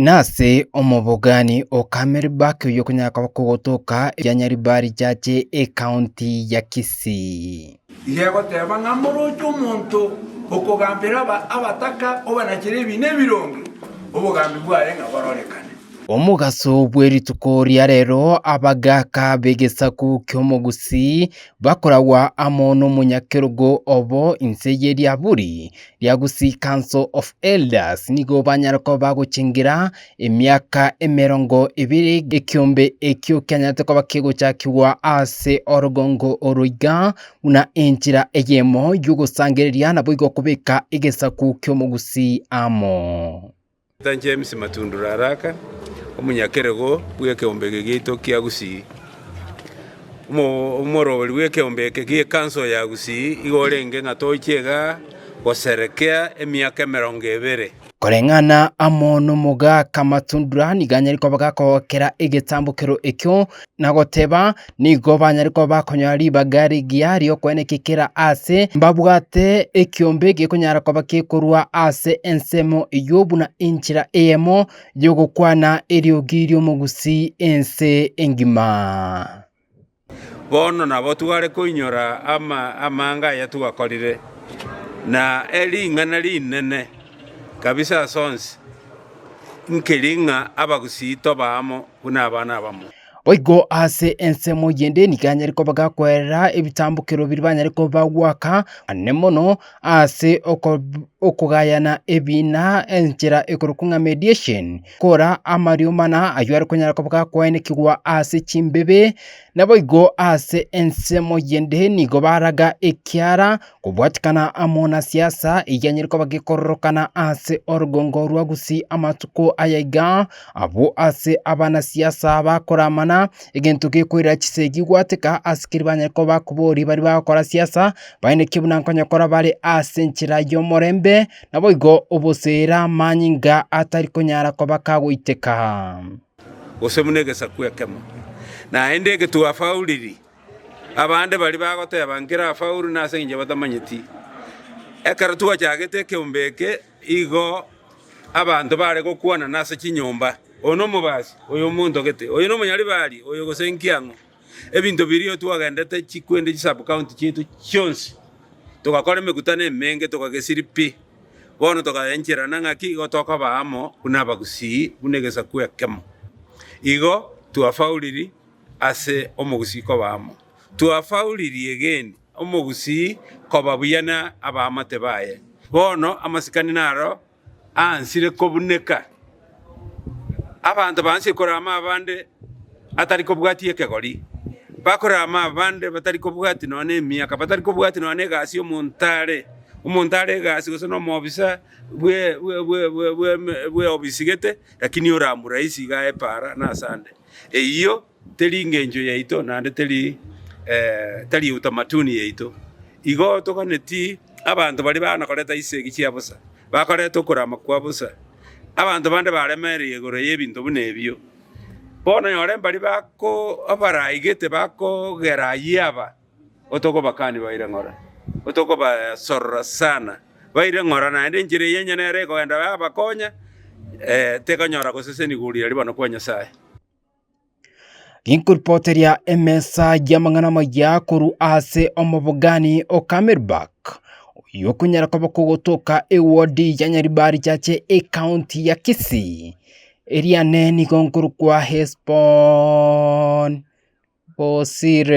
Nase omobogani o Camelback oyio okonyara koba kogotoka eria Nyaribari Church ecounty ya Kisii. Iga egoteba ng'a moroche omonto okogambera abataka obanachere ebiina ebironge, obogambi bwaye ng'a bororekane. Omogaso bwe rituko ria rero abagaaka b'egesaku ki'Omogusii bakoragwa amo n'omonyakerogo obo inse ye Liaburi Riagusi Council of Elders nigo banyare koba bagochengera emiaka emerongo ebere ekiombe ekio kianyarete koba kegochakigwa ase orogongo oro iga, buna enchera eyemo y'ogosangereria naboigo kobeka egesaku ki'omogusi amo. Sir James Matundu Raraka, omonyakerego bw'ekeombege giaito kia Gusii, omorwori bw'ekeombe eke gi'ekanso ya Gusii, iga orenge ng'a toiche iga goserekea emiaka emerongo ebere. Koreng'ana amo n'omogaka Matundura nigo anyare koba gakogokera egetambokero ekio na goteba, nigo banyare koba bakonyora ribaga rigiya ri'okweneka ekera aase, mbabwate ekiombe gekonyara koba gekorwa ase ensemo eyio buna enchera eyemo y'ogokwana eriogi ri'omogusii ense engima. Bono nabo tware koinyora amanga aya twakorire, na ering'ana rinene kabisa ase onsi, nkeri ng'a abagusii toba amo buna abana abamo. Boigo ase ensemo eyende nigo anyare koba gakwerera ebitambokero biria banyare koba bagoaka, manene mono ase okogayana ebiina enchera ekorokwa ng'a mediation, kora amario mana ayio are konyara koba gakoenekigwa ase chimbebe. Naboigo ase ensemo eyende nigo baraga ekiara kobwatikana amo na siasa eyio enyare koba gekororokana ase orogongo rwa Gusii amatuko aya igaa, Abwo ase abanasiasa bakoramana egento gekoirera chisegi gwateka, asikiri banyare koba bakobori baria bagokora siasa, baineke buna nkonyokora bare ase enchera y'omorembe, naboigo obosera amanyinga atari konyara koba kagoiteka. gose buna egesaku ekemo. Naende egetuba afauriri, abande baria bagoteba, Nkere afaure nase engencho batamanyeti. Ekero twachagete ekeombe eke, Igo abanto baare gokwanana ase chinyomba, Oyo nomobaasi, oyo omontogete, oyo nomonyaribari, oyo gose inki ang'o. Ebinto biria twagenderete chikwende chisubcounty chiaito chionsi, togakora emekutano emenge, tokagesiri pi. Bono tokaencherana ng'aki igo tokaba amo buna abagusii, buna egesaku ekemo. Igo twafauriri ase omogusii koba amo. Twafauriri egeeni. omogusii koba buya na abaamate baye. Bono amasikani naro aansire kobuneka, abanto baansie korora amabande atari kobwatia ekegori, bakorora amabande batari kobwatia nonya na emiaka, batari kobwatia nonya na egasi y'omonto are, omonto are egasi gose na omoofisa bwe- bwe- bwe- bwe- bw'eme- bw'eofisi gete, rakini oramuraisi iga aye paara na asande. Eyio. Teri ngencho yaito, naende teri tari utamatuni yaito. Igo toganeti abanto baria baana koreta chisegi chia bosa, bakareta okorama kwa bosa. Abanto bande baremereire igoro y'ebinto buna ebio. Bono nyore mbari bako abaraigete bakogera ayio aba, otokobakani baire ng'ora, otokobasorora sana, baire ng'ora naende enchera eyio onye nere ekogenda yabakonya, tekonyora goseseniwa riria ribaano kwa Nyasae. Ginkoripoteria emesa y'amang'ana amaya korwa ase omobogani o Camelback, oyio okonyara koba kogotoka ewodi ya Nyaribari chache ekaunti ya Kisii. Eria nee nigo nkorokwa Hesbon Osire.